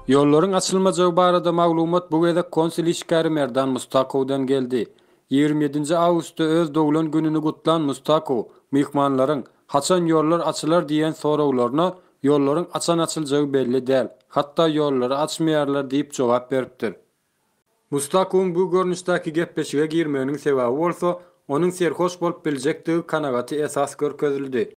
Ýollaryň açylmajagy barada maglumat bu gezek konsul işgäri Merdan Mustakowdan geldi. Ýigrimi ýedinji awgustda öz doglan gününi gutlan Mustakow myhmanlaryň, Haçan ýollar açylar diýen soraglaryna, Ýollaryň açan açyljagy belli däl, hatda ýollary açmaýarlar diýip jogap beripdir. Mustakowyň bu görnüşdäki gepleşige girmeginiň sebäbi bolsa, onuň serhoş bolup biljekdigi kanagaty esas görkezildi.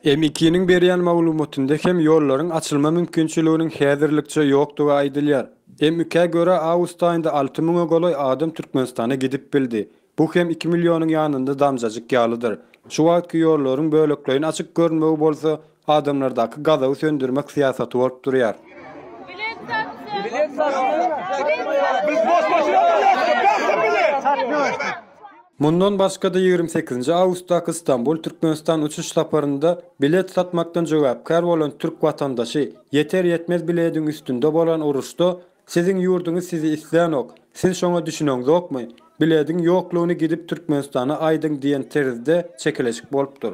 MEK-niň berýän maglumatynda hem ýollaryň açylma mümkinçiliginiň häzirlikçe ýokdugy aýdylýar. MEK-ä görä, awgust aýynda alty müňe golaý adam Türkmenistana gidip bildi. Bu hem iki millionyň ýanynda damjajyk ýalydyr. Şu wagtky ýollaryň bölekleýin açyk görünmegi bolsa, adamlardaky gazaby söndürmek syýasaty bolup durýar. Mundan başga-da ýigrimi sekizinji awgustdaky Stambul, Türkmenistan uçuş saparynda bilet satmakdan jogäpkär bolan türk watandaşy, Ýeter-ýetmez bilediň üstünde bolan uruşda siziň ýurduňyz sizi islänok, siz şoňa düşüneňzokmy, bilediň ýoklugyny gidip Türkmenistana aýdyň diýen terzde çekeleşik bolupdyr.